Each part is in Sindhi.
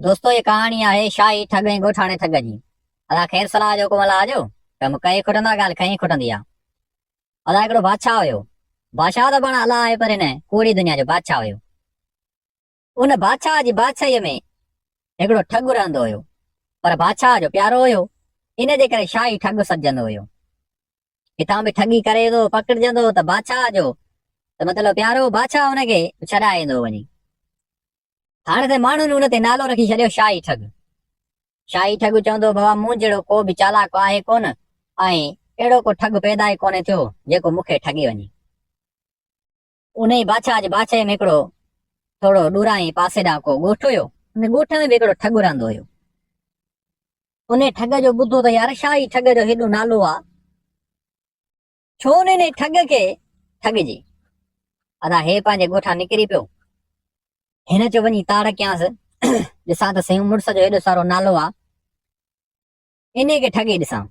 دوستو هيء ڪهاڻي آهي شاهي ٺڳ ۽ ڳوٺاڻي ٺڳ جي. ادا خير صلاح جو حڪم الله جو، ڪم ڪئي کٽندا ڳالهه کئي کٽندي آ. ادا هڪڙو بادشاهه هيو. بادشاهه ته پاڻ الله آهي پر هن ڪوڙي دنيا جو بادشاهه هيو. ان بادشاهه جي بادشاهيء ۾ هڪڙو ٺڳ رهندو هيو پر بادشاهه جو پيارو هيو ان جي ڪري شاهي ٺڳ سڏجندو هيو. ڪٿان به ٺڳي ڪري ٿو پڪڙجندو ته بادشاهه جو ته مطلب پيارو بادشاهه هن کي ڇڏائي ايندو وڃي هاڻي ته ماڻهن هن تي نالو رکي ڇڏيو شاهي ٺڳ شاهي ٺڳ چوندو بابا مون جهڙو ڪو به چالاڪ آهي ڪونه ۽ اهڙو ڪو ٺڳ پيدا ئي ڪونهي ٿيو جيڪو مون کي ٺڳي وڃي انهيء بادشاهه جي باغچي ۾ هڪڙو ٿورو ڏورانهين پاسي ڏانهن ڪو ڳوٺ هيو. ان ڳوٺ ۾ به هڪڙو ٺڳ رهندو هيو. انهيء ٺڳ جو ٻڌو ته يار ڇا هي ٺڳ جو هيڏو نالو آ؟ ڇو نه انهيء ٺڳ کي ٺڳجي؟ ادا هي پنهنجي ڳوٺان نڪري پيو. هن چيو وڃي تاڙ ڪيانس، ڏسان ته سهيون مڙس جو هيڏو سارو نالو آ. انهيء کي ٺڳي ڏسان.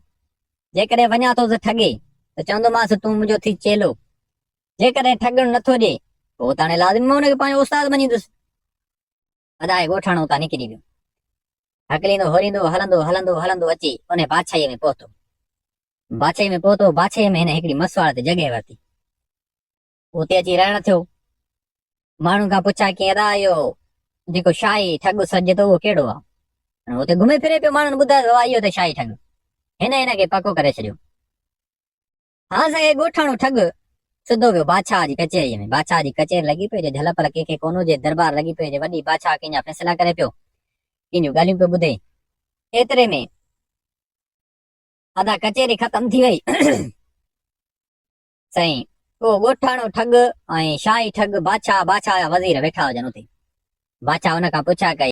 جيڪڏهن وڃان ٿو سو ٺڳي ته چوندومانس تون منهنجو ٿي چيلو. جيڪڏهن ٺڳڻ نه ٿو ڏئي پوء اوتاڻي لازمي مان ان کي پنهنجو استاد مڃيندس. ادائي ڳوٺاڻو اتان نڪري ويو. هڪليندو هوريندو هلندو هلندو هلندو اچي انهيء باڇائيء ۾ پهتو. باڇائيء ۾ پهتو، باڇائيء ۾ هن هڪڙي مسواڙ تي جڳهه ورتي. اتي اچي رهڻ ٿيو. ماڻهن کان پڇا ڪيئن ادا اهو جيڪو شاهي ٺڳ سڏجي ٿو اهو ڪهڙو آ؟ هن اتي گهمي ڦري پيو ماڻهن ٻڌايو ته اهو ته شاهي ٺڳ. هن هن کي پڪو ڪري ڇڏيو. هان سائين ڳوٺاڻو ٺڳ سڌو ويو بادشاهه جي ڪچهريء ۾. بادشاهه جي ڪچهري لڳي پئي جو جهل پل ڪنهن کي ڪونه هجي. دربار لڳي پئي جو وڏي بادشاهه ڪنهن جا فيصلا ڪري پيو. ڪنهن جون ڳالهيون پيو ٻڌي. ايتري ۾ ادا ڪچهري ختم ٿي وئي. سائين اهو ڳوٺاڻو ٺڳ ۽ شاهي ٺڳ بادشاهه بادشاهه جا وزير ويٺا هجن اتي. بادشاهه ان کان پڇا ڪئي.